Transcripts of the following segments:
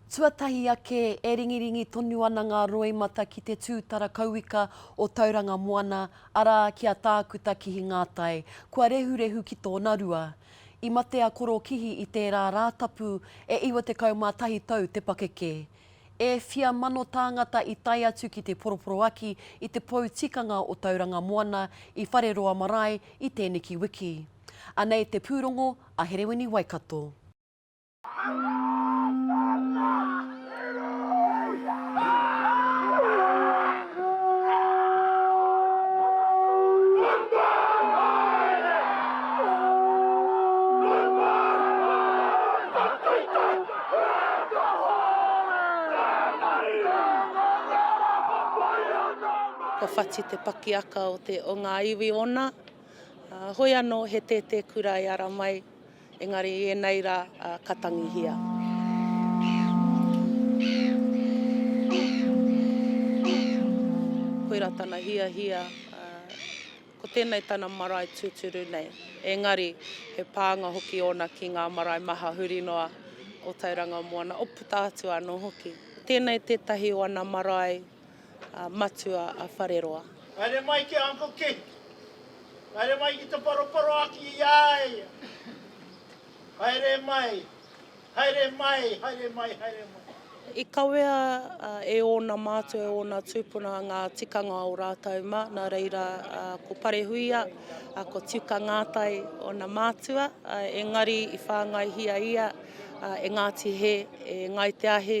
Tuatahi ake, e ringiringi tonu ana ngā roimata ki te tūtara kauika o Tauranga Moana, arā, ki a Tākuta Kihi Ngātai. Kua rehurehu ki tōna rua. I mate a Koro Kihi i tērā Rātapu, e 91 tau te pakeke. E whia mano tāngata i tae atu ki te poroporoaki i te pou tikanga o Tauranga Moana i Whareroa Marae i tēneki wiki. Anei te pūrongo a Herewini Waikato. Ko Whati te pakiaka o te o ngā iwi ona. Hoi anō he tētē kura e ara mai. Engari i ēnei rā ka tangihia. Koirā tana hiahia, ko tēnei tana marae tūturu nei. Engari he pānga hoki ōna ki ngā marae maha huri noa o Tauranga Moana, o puta atu anō hoki. Tēnei tētahi o ana marae. matua a Whareroa. Haere mai ki a Uncle Keith. Haere mai ki te paroporoaki i a ia. Haere mai, haere mai, haere mai, haere mai. I kawea e ōna mātua, e ōna tūpuna ngā tikanga o rātou mā, nā reira ko Parehuia, ko Tiuka Ngātai ōna mātua, engari i whāngaihia ia e Ngāti Hē, e Ngāi Te Ahi.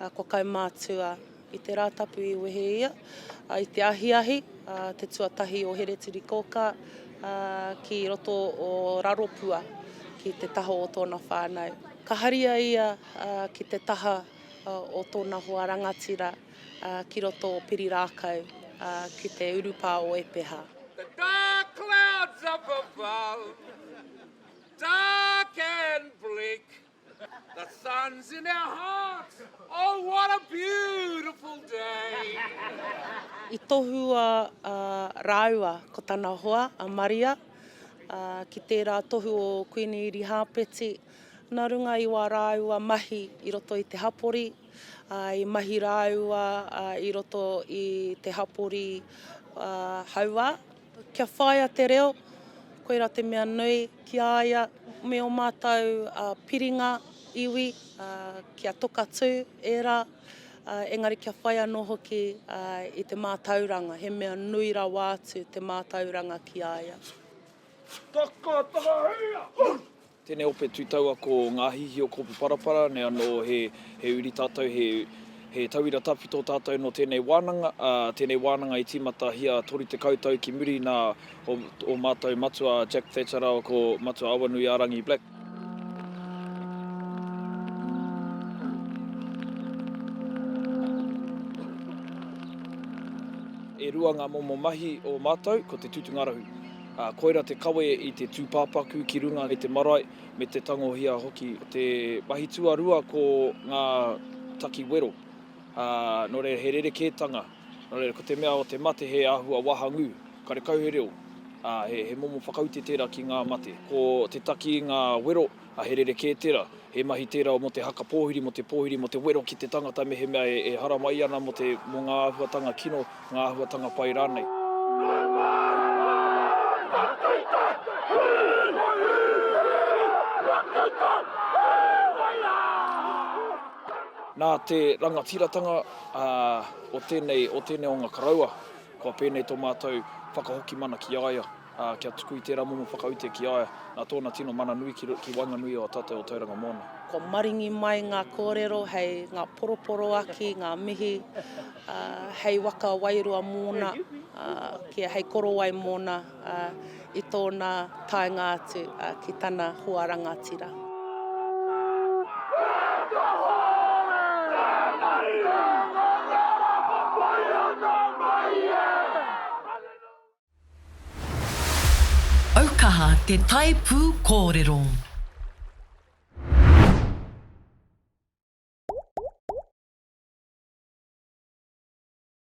a, kua kaumātua i te Rātapu i wehe ia, a, i te ahiahi, a, te tuatahi o Hereturikōkā, a, ki roto o Raropua, ki te taha o tōna whānau. Ka haria ia, a, ki te taha, a, o tōna hoa rangatira, a, ki roto o Pirirākau, a, ki te urupā o Epeha. The dark clouds up above, dark and bleak. The sun's in our hearts, oh what a beautiful day. I tohua rāua ko tana hoa a Maria ki tērā tohu o Kuini Irihāpeti nā runga i wā rāua mahi i roto i te hapori, i mahi rāua i roto i te hapori hauā. Kia whāia te reo, koirā te mea nui ki a ia me ō mātou piringa iwi kia tokatū ērā, engari kia whai anō hoki i te mātauranga, he mea nui rawa atu te mātauranga ki a ia. Takatakahia! Tēnei ope tū taua ko Ngā Hīhī o Kōpu Parapara nei anō he uri tātou, he tauira tawhito tātou nō tēnei wānanga, tēnei wānanga i tīmatahia 30 tau ki muri nā ō mātou matua Jack Thatcher rāua ko Matua Awanuiārangi Black. E rua ngā momo mahi o mātou, ko te tūtungarahu. Ā, koirā te kawe i te tūpāpaku ki runga i te marae, me te tangohia hoki. Te mahi tuarua ko ngā taki wero. Ā, nō reira he rerekētanga, nō reira ko te mea o te mate he āhua wahangū, karekau he reo, ā, he momo whakaute tērā ki ngā mate. Ko te taki i ngā wero. He rerekē tērā. He mahi tērā mō te haka pōhiri, mō te pōhiri, mō te wero ki te tangata mehemea e haramai ana mō te, mō ngā āhuatanga kino, ngā āhuatanga pai rānei. Nā te rangatiratanga o tēnei, o tēnei o ngā karaua, kua pēnei tō mātou whakahoki mana ki a ia. ā, kia tuku i tērā momo whakaute ki a ia, nā tōna tino mana nui ki, ki waenganui o a tātou o Tauranga Moana. Kua maringi mai ngā kōrero hei ngā poroporoaki, ngā mihi, ā, hei waka wairua mōna, ā, kia hei korowai mōna, ā, i tōna taenga atu, ā, ki tana hoa rangatira. Aukaha te tae pū kōrero.